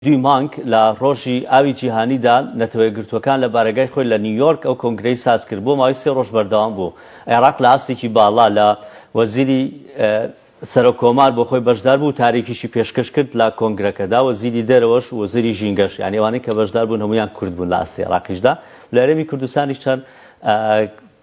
دووی مانگ لە ڕۆژی ئاوی جیهانیدا نەتەوەیەکگرتووەکان لە بارەگای خۆی لە نیویۆرک ئەو کۆنگرەی سازکرد بۆ ماوەی سێ ڕۆژ بەردەوام بوو عێراق لە ئاستێکی باڵا لە وەزیری سەرۆک کۆمار بۆ خۆی بەشدار بوو وتارێکیشی پێشکەش کرد لە کۆنگرەکەدا وەزیری دەرەوەش و وەزیری ژینگەش یانی ئەوانەی کە بەشدار بوون هەموویان کورد بوون لە ئاستی عێراقیشدا لە هەرێمی کوردستانیش چەند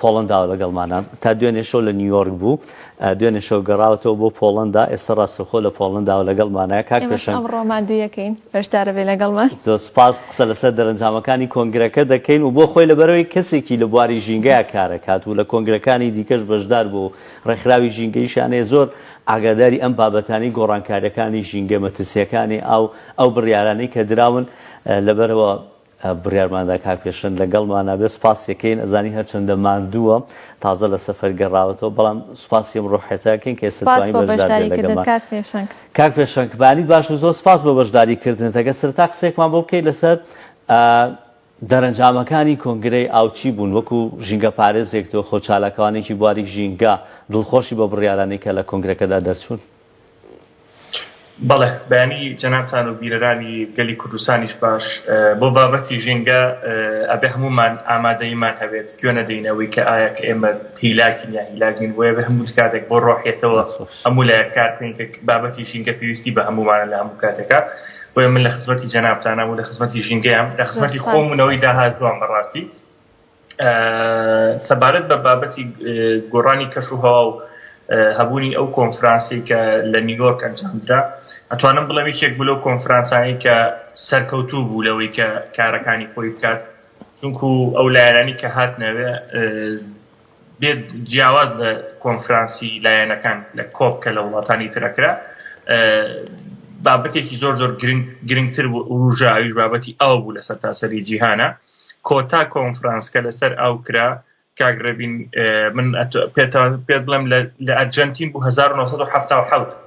پۆڵەنداوە لەگەڵمانە. تا دوێنێ شەو لە نیویۆرک بوو، دوێنێ شەو گەڕاوەتەوە بۆ پۆڵەندا، ئێستا ڕاستەوخۆ لە پۆڵەنداوە لەگەڵمانە. کاک ئێمەش پێشەنگ. ئەمڕۆ مان دوویەکەین. بەشدارە بێ لەگەڵمان. زۆر سوپاس، قسە لەسەر دەرەنجامەکانی کۆنگرەکە دەکەین و بۆ خۆی لەبەرئەوەی کەسێکی لە بواری ژینگەیا کارەکات و لە کۆنگرەکانی دیکەش بەشدار بووە و ڕێکخراوی ژینگەیشیان هەیە، زۆر ئاگاداری ئەم بابەتانەی گۆڕانکارییەکانی ژینگە، مەترسییەکانی ئاو، ئەو بڕیارانەی کە دراون لەبەرئەوە بڕیارماندا کاک پێشەنگ لەگەڵمانە بێت سوپاسیەکەین ئەزانین هەرچەندە ماندووە تازە لە سەفەر گەڕاوەتەوە بەڵام سوپاسی ئەم ڕۆحیەتەکەین کە ئێستا توانی بەشداری بێت لەگەڵمان کاک پێشەنگ کاک پێشەنگ بەیانیت باش و زۆر سوپاس بۆ بەشداری کردنت ئەگەر سەرەتا قسەیەکمان بۆ بکەیت لەسەر دەرەنجامەکانی کۆنگرەی ئاو چی بوون وەکو ژینگە پارێزێک تۆ خۆ چالاکوانێکی بواری ژینگە دڵخۆشی بە بڕیارانەی کە لە کۆنگرەکەدا دەرچوون بەڵێ بەیانی جەنابتان و بیرەرانی گەلی کوردستانیش باش بۆ بابەتی ژینگە ئەبێ هەموومان ئامادەییمان هەبێت گوێ نەدەین ئەوەی کە ئایا کە ئێمە هیلاکین یا هیلاک نین بۆیە بێ هەموو کاتێک بۆ ڕۆحیەتەوە هەموو لایەک کار بکەین کە بابەتی ژینگە پێویستی بە هەموومانە لە هەموو کاتێکا بۆیە من لە خزمەتی جەنابتانم و لە خزمەتی ژینگەیەم لە خزمەتی خۆم و نەوەی داهاتووام بەڕاستی سەبارەت بە بابەتی گۆڕانی کەش و هەوا و هەبوونی ئەو کۆنفرانسی کە لە نیوۆرک ئەنجامدرا ئەتوانم بڵێم یەکێک بلو کۆنفرانسانی کە سەرکەوتوو بوو لەوەی کە کارەکانی خۆی بکات چونکو ئەو لایەنانی کە هات نەوێ بێ جیاواز لە کۆنفرانسی لایەنەکان لە کۆپ کە لە وڵاتانی ترەکرا بابەتێکی زۆر زۆر گرنگتر بوو وروژە ئەویش بابەتی ئەو بوو لە سەر تاسەری جیهانە کۆتا کۆنفرانس کە لەسەر ئەو کرا کاگربین من پێ بڵم لە ئەرجنتین بوو 1970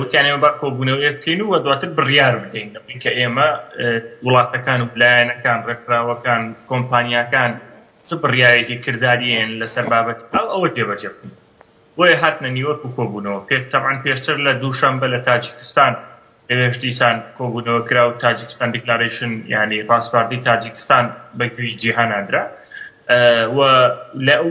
وتیان ئێمە با کۆبوونەوەیەک بکەین و دواتر بڕیار بدەین لەبەر کە ئێمە وڵاتەکان و لایەنەکان ڕێکخراوەکان کۆمپانیاکان چ بڕیارێکی کردداریێن لەسەر بابەت ئەو ئەوە جێبەجێ بکەین بۆیە هاتنە نیوەک و کۆبوونەوە پێ تەبان پێشتر لە دووشەمبە لە تاجیکستان لەوێش دیسان کۆبوونەوە کرا و تاجیکستان دیکلارشن ینی ڕاستپاردی تاجیکستان بەگوێی جیهاننادرا و لە ئەو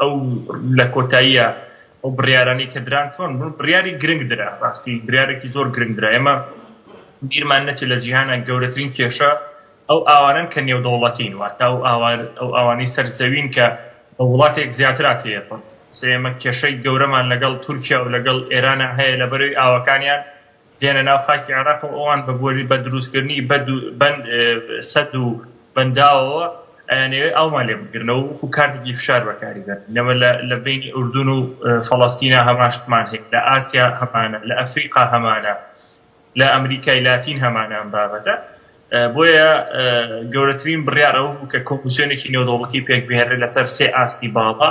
ئەو لە کۆتاییا ئەو بڕیارانەی کە دران چۆن بوون بڕیاری گرنگ درا ڕاستی بریارێکی زۆر گرنگ درا ئێمە بیرمان نەچێت لە جیهانە گەورەترین کێشە ئەو ئاوانن کە نێودەوڵەتین واتا و ئاوار ئەو ئاوانەی سەر زەوین کە بە وڵاتێک زیاترات هەیە پڕ سێمە کێشەی گەورەمان لەگەڵ تورکیا و لەگەڵ ئێرانە هەیە لە بەرەوەی ئاوەکانیان دێنە ناو خاکی عێراق و ئەوان بە بۆری بە دروستکردنی بەد و بەند سەد و بەنداوەوە ئەیانەوێت ئاومان لێ بگرنەوە وەکو کارتێکی فشار بەکاری بەن نەمە لە لە بینی ئوردون و فەڵەستینا هەماشتمان هەیە لە ئاسیا هەمانە لە ئەفریقا هەمانە لە ئەمریکای لاتین هەمانە ئەم بابەتە بۆیە گەورەترین بڕیار ئەوە بوو کە کۆمپسیۆنێکی نێودەوڵەتی پێک بهێنرێت لەسەر سێ ئاستی باڵا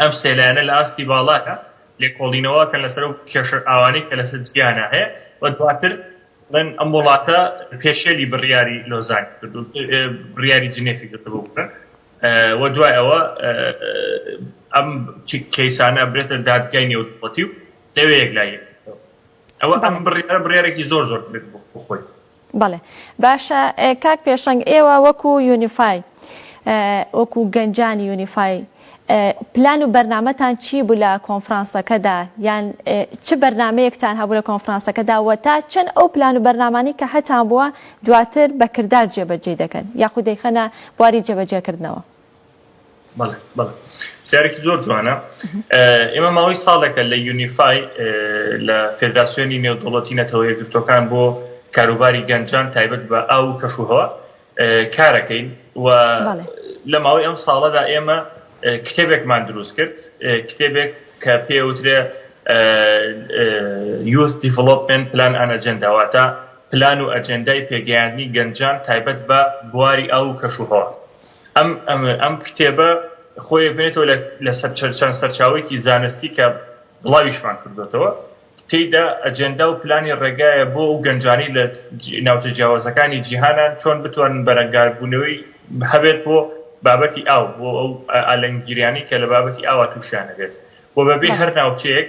ئەم سێ لایەنە لە ئاستی باڵادا لێکۆڵینەوە ئەکەن لەسەر ئەو کێشە و ئاوانەی کە لەسەر جیانا هەیە و دواتر دەڵێن ئەم وڵاتە پێشێلی بڕیاری لۆزانی کردووە بڕیاری جنێفی کردبوو بکەن و دوای ئەوە ئەم کەیسانە ئەبرێتە دادگای نێودەوڵەتی و لەوێ یەکلاییەکردەوە ئەوە ئەم بڕیارە بڕیارێکی زۆر زۆر درێت بۆ خۆی بەڵێ باشە کاک پێشەنگ ئێوە وەکو یونیفای وەکو گەنجانی یونیفای پلان و بەرنمەتان چی بوو لە کۆنفرانسەکەدا یان چ بەرنمەیەکتان هەبوو لە کۆنفرانسەکەدا وە تا چەند ئەو پلان و بەرنمانی کە هەتان بووە دواتر بەکردار جێبەجێ دەکەن یاخود دەیخەنە بواری جێبەجێکردنەوە پرسیارێکی زۆر جوانە ئێمە ماوەی ساڵێکە لە یونیفای لە فێداسیۆنی نێودوڵەتی نەتەوە یەکگرتوەکان بۆ کاروباری گەنجان تایبەت بە ئاو و کەشوهوە کارەکەین و لە ماوەی ئەم ساڵەدا ئێمە کتێبێکمان دروست کرد کتێبێک کە پێوترێ یوز دیڤلوپمنت پلان ئەنەجنداواتە پلان و ئەجندای پێگەیاندنی گەنجان تایبەت بە بواری ئاو و کەشوهوە ئەم کتێبە خۆی بنێتەوە لە چەند سەرچاوەیەکی زانستی کە بڵاویشمان کردۆتەوە، تێیدا ئەجێندا و پلانی ڕێگایە بۆ ئەو گەنجانەی لە ناوچە جیاوازەکانی جیهانان چۆن بتوانن بەرەنگاربوونەوەی هەبێت بۆ بابەتی ئاو، بۆ ئەو ئالنگیریانەی کە لە بابەتی ئاوا تووشیان ئەبێت و بەبێ هەر ناوچەیەک.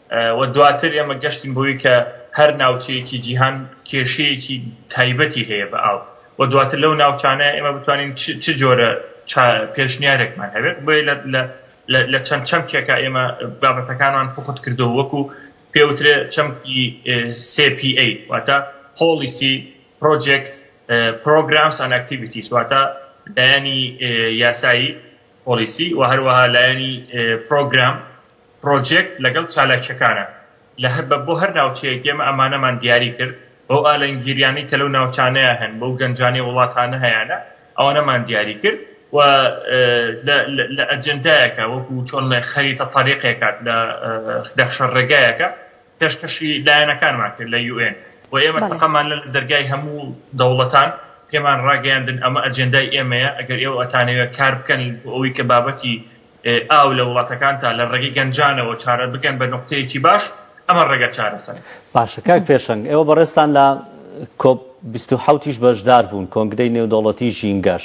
و دواتر ئێمە گەشتین بۆی کە هەر ناوچەیەکی جیهان کێشەیەکی تایبەتی هەیە بە ئاو و دواتر لەو ناوچانە ئێمە بتوانین چ جۆرە پێشنیارێکمان هەبێت بۆ لە چەند چەمکێکە ئێمە بابەتەکانمان پخت کردو وەکو پێوترێ چەمکی CPA واتە پۆلیسی پرۆجێکت پرۆگرامس ئەن ئەکتیڤیتیس واتە لایەنی یاسایی پۆلیسی و هەروەها لایەنی پرۆگرام پرۆجێکت لەگەڵ چالاکیەکانە لە هە بە بۆ هەر ناوچەیەک ئێمە ئەمانەمان دیاری کرد بەو ئالەنگیریانەی کە لەو ناوچانەیە هەن بەو گەنجانەی وڵاتانە هەیانە ئەوانەمان دیاری کرد و لە لە ئەجندایەکە وەکو چۆن لە خەریتە تەریقێکات لە دەخشە ڕێگایەکە پێشکەشی لایەنەکانمان کرد لە یو ئێن و ئێمە بەڵێ تەقەمان لە دەرگای هەموو دەوڵەتان پێمان ڕاگەیاندن ئەمە ئەجندای ئێمەیە ئەگەر ئێوە ئەتانەوێت کار بکەن بۆ ئەوی کە بابەتی ئاو لە وڵاتەکانتا لە ڕێگەی گەنجانەوە چارە بکەن بە نوقتەیەکی باش، ئەمە ڕێگا چارەسەرە. باشە کاک پێشەنگ ئێوە بەڕێزتان لە کۆپ بیست و حەوت یش بەشدار بوون، کۆنگرەی نێودەوڵەتی ژینگەش،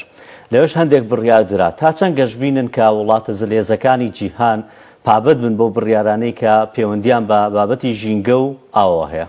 لەوێش هەندێک بڕیار درا، تا چەند گەشبینن کە وڵاتە زلهێزەکانی جیهان پابەند بن بەو بڕیارانەی کە پێوەندییان بە بابەتی ژینگە و ئاوەوە هەیە؟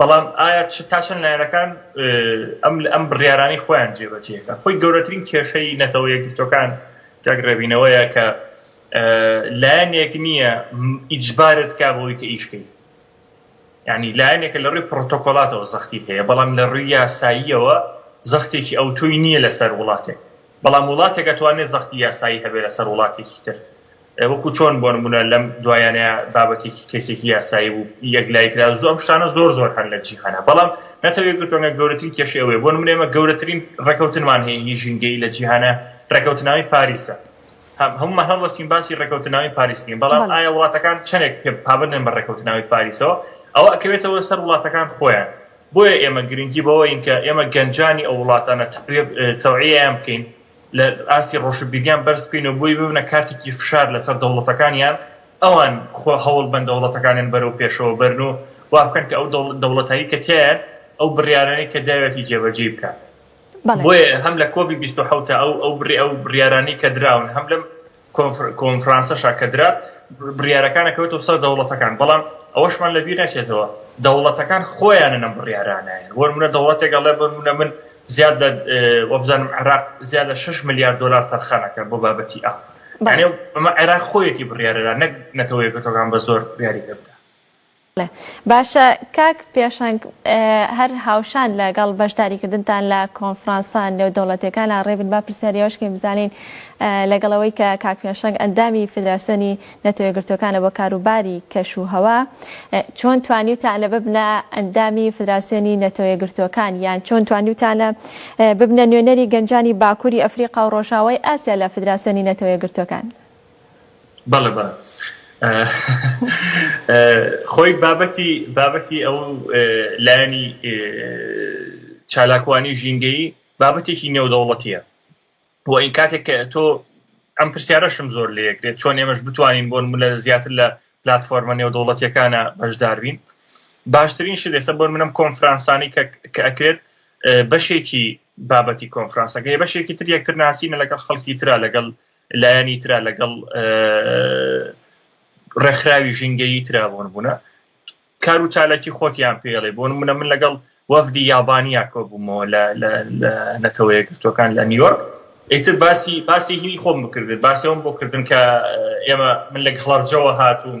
بەڵام ئایا تا چەند لایەنەکان ئەم بڕیارانەی خۆیان جێبەجێ ئەکەن؟ خۆی گەورەترین کێشەی نەتەوە یەکگرتووەکان کاک ڕێبین ئەوەیە کە لایەنێک نییە ئیجبارت کا بەوەی کە ئیش کەی یعنی لایەنێکە لە ڕووی پڕۆتۆکۆلاتەوە زەختی هەیە بەڵام لە ڕووی یاساییەوە زەختێکی ئەوتۆی نییە لەسەر وڵاتێک بەڵام وڵاتێک ئەتوانێت زەختی یاسایی هەبێت لەسەر وڵاتێکی تر وەکو چۆن بۆ نمونە لەم دوایانەیا بابەتێکی کەیسێکی یاسایی بوو یەک لای کرا زۆر ئەم شتانە زۆر زۆر هەن لە جیهانا بەڵام نەتەوە یەکگرتوەکان گەورەترین کێشەی ئەوەیە بۆ نمونە ئێمە گەورەترین ڕێکەوتنمان هەیە هی ژینگەیی لە جیهانا ڕێکەوتننامەی پاریسە هەموومان هەڵدەستین باسی ڕێکەوتننامەی پاریس بکەین بەڵام بەڵێ ئایا وڵاتەکان چەندێک پێ پابەندن بە ڕێکەوتننامەی پاریسەوە ئەوە ئەکەوێتەوە سەر وڵاتەکان خۆیان بۆیە ئێمە گرنگی بەوەین کە ئێمە گەنجانی ئەو وڵاتانە تەقویە اه، تەوعیەیان بکەین لە ئاستی ڕۆشنبیریان بەرز بکەین و بۆی ببنە کارتێکی فشار لەسەر دەوڵەتەکانیان ئەوان خۆ هەوڵ بەن دەوڵەتەکانیان بەرەو پێشەوە بەرن و وا بکەن کە ئەو دەوڵەتایی کە تیایان ئەو بڕیارانەی کە داوێتی جێبەجێی بکات بۆیە هەم لە کۆبی 27 ئەو ئەو بڕێ ئەو بڕیارانی کە دراون هەم لەم کۆنفرانسە شاکەدرا بڕیارەکانە کەوتەوە سەر دەوڵەتەکان بەڵام ئەوەشمان لە بیر نەچێتەوە دەوڵەتەکان خۆیانە نەم بڕیارانایان وەر منە دەوڵەتێکە ڵێ بەر منە من زیاد لە وەبزانم عراق زیاد لە 6 میلیارد دلار تەرخانەکە بۆ بابەتی ئا ئەمە عێراق خۆیەتی بڕیارەدا نەک نەتەوەیەکەکان بە زۆر بریاری پێ بدە باشە کاک پێشەنگ هەر هاوشان لە گەڵ بەشداری کردنتان لە کۆنفرانسە نێودەوڵەتیەکانا ڕێبن با پرسیاری ئەوەش کەین بزانین لە گەڵ ئەوەی کە کاک پێشەنگ ئەندامی فیدراسیۆنی نەتەوە یەکگرتوەکانە بۆ کارو باری کەش و هەوا چۆن توانیوتانە ببنە ئەندامی فیدراسیۆنی نەتەوە یەکگرتوەکان یان چۆن توانیوتانە ببنە نوێنەری گەنجانی باکوری ئەفریقا و ڕۆژاوای ئاسیا لە فیدراسیۆنی نەتەوە یەکگرتوەکان؟ بەڵێ بەڵێ خۆی بابەتی بابەتی ئەو لایەنی چالاکوانی ژینگەیی بابەتێکی نێودەوڵەتیە بۆ ئین کاتێک کە تۆ ئەم پرسیارەشم زۆر لەکرێت چۆن ئێمەش بتوانین بۆن ملە زیاتر لە پلتفۆرمە نێودەوڵەتەکانە بەشداربین باشترین شێسە بۆن منم کۆنفرانسانی کە ئەکرێت بەشێکی بابەتی کۆنفرانسەکەی بەشێکی تر یەکتر ناسینە لەگەڵ خەڵکی تررا لەگەڵ لایەنی تررا لەگەڵ ڕێکخراوی ژینگەیی تررا بۆن بوونە کار و چالاکی خۆتیان پێڵێ بۆن منە من لەگەڵ وەفدی یابانیا کۆ بوومەوە لە نەتەوەیە گرتوەکان لە نیویۆرک ئیتر باسی باسی هینی خۆم بکردن باسیەوەم بۆ کردن کە ئێمە من لە خڵارجەوە هاتوون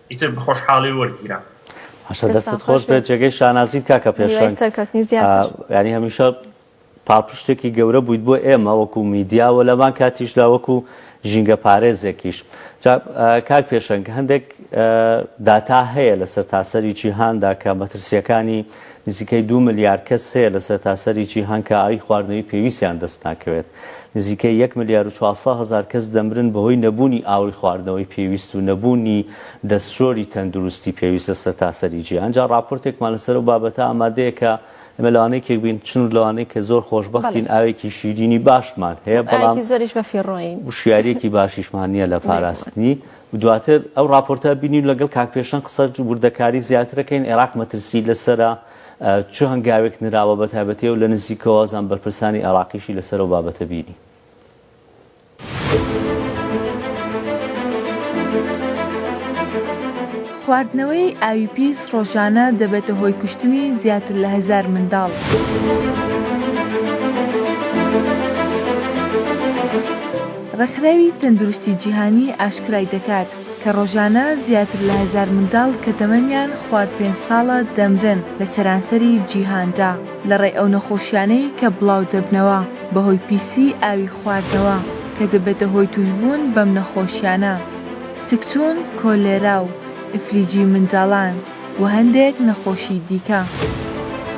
ئیتر بەخۆشحاڵی وەرگیرا. باشە دەستت دەستتان خۆش خۆش بێت بێت. جێگەی شانازیت کاکە هیوای پێشەنگ سەرکەوتنی زیاتر. ئا، یانی هەمیشە پاڵپشتێکی گەورە بوویت بۆ ئێمە وەکو میدیا و لەمان کاتیشدا وەکو ژینگە پارێزێکیش جا ئا، کاک پێشەنگ هەندێک ئا، داتا هەیە لە سەرتاسەری جیهاندا کە مەترسیەکانی نزیکەی دوو ملیار کەس هەیە لە سەرتاسەری جیهان کە ئاوی خواردنەوەی پێویستیان دەست ناکەوێت نزیکەی یەک ملیار و چوار سەد هەزار کەس دەمرن بەهۆی نەبوونی ئاوی خواردنەوەی پێویست و نەبوونی دەستشۆری تەندروستی پێویست لە سەرتاسەری جیهان. جا ڕاپۆرتێکمان لەسەر ئەو بابەتە ئامادەیە کە ئێمە لەوانەیە یەکێک بین، چون لەوانەیە کە زۆر بەڵێ. خۆشبەختین، ئاوێکی شیرینی باشمان هەیە، بەڵام ئاوێکی زۆریش بەفیڕۆین. وشیارییەکی باشیشمان نییە لە بێگومان. پاراستنی. دواتر ئەو ڕاپۆرتە بینی و لەگەڵ کاک پێشەنگ قسە وردەکاری زیاتر ئەکەین. عێراق مەترسیی لەسەرە. چ هەنگاوێک نراوە بە تایبەتی و لە نزیکەوەزان بەرپرسانی عێراقیشی لەسەر ئەو بابەتە بیری. خواردنەوەی ئاوی پیس ڕۆژانە دەبێتە هۆی کوشتنی زیاتر لە هەزار منداڵ. ڕێکخراوی تەندروستی جیهانی ئاشکرای دەکات، کە ڕۆژانە زیاتر لە هەزار منداڵ کە تەمەنیان خوار پێنج ساڵە دەمرن لە سەرانسەری جیهاندا لەڕێی ئەو نەخۆشیانەی کە بڵاودەبنەوە بەهۆی پیسی ئاوی خواردنەوە کە دەبێتە هۆی توشبوون بەم نەخۆشیانە سکچوون کۆلێرا و ئیفلیجی منداڵان و هەندێک نەخۆشی دیکە.